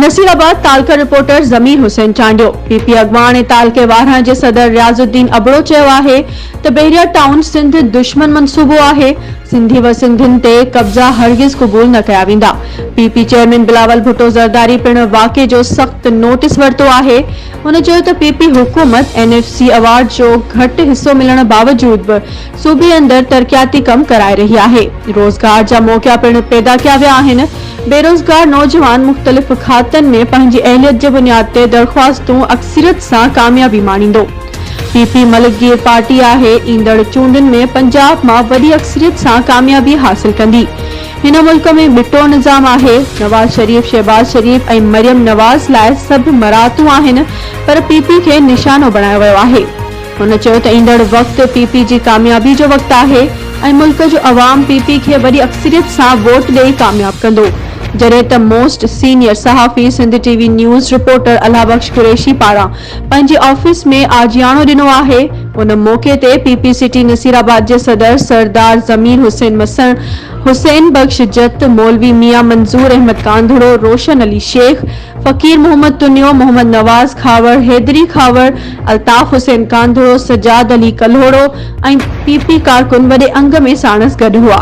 نصير آباد تعلقه reporter Zameer Hussain Chandio P P اڳواڻ ۽ تعلقي وارهڻ جي صدر رياض الدين ابڙو چيو آهي ته بحريا ٽائون سنڌ دشمن منصوبو آهي سنڌي و سنڌين تي قبضا هرگز قبول نه ڪيا ويندا P P chairman Bilawal Bhutto Zardari پڻ واقعي جو سخت نوٽس ورتو آهي هن چيو ته پي پي حڪومت اين ايف سي ايوارڊ جو گهٽ حصو ملڻ باوجود به صوبي اندر ترقياتي ڪم ڪرائي رهي آهي، روزگار جا موقعا پڻ پيدا ڪيا ويا آهن، بيروزگار نوجوان مختلف کاتن ۾ پنهنجي اهليت جي بنياد تي درخواستون اڪثريت سان ڪاميابي ماڻيندو، پي پي ملڪگير پارٽي آهي، ايندڙ چونڊن ۾ پنجاب مان وڏي اڪثريت سان ڪاميابي حاصل ڪندي، هن ملڪ ۾ ٻٽو نظام آهي، نواز شريف، شهباز شريف ۽ مريم نواز لاء سڀ مراعتون آهن پر پي پي کي نشانو بڻايو ويو آهي. هن چيو ته ايندڙ وقت پي پي جي ڪاميابي جو وقت آهي ۽ ملڪ جو عوام پي پي کي وڏي اڪثريت سان ووٽ ڏئي ڪامياب ڪندو جڏهن ته موسٽ سينيئر صحافي Sindh T V news reporter Allah Bakhsh Qureshi پاران پنهنجي آفيس ۾ آجياڻو ڏنو آهي. ان موقعي تي P P city Naseerabad جي صدر سردار ضمير حسين مسڻ، حسين بخش جت، مولوي ميان منظور احمد ڪانڌڙو، روشن علي شيخ، فقير محمد تنيو، محمد نواز کهاوڙ، حيدري کهاوڙ، الطاف حسين ڪانڌڙو، سجاد علي ڪلهوڙو ۽ پي پي ڪارڪن وڏي انگ ۾ ساڻس گڏ هئا.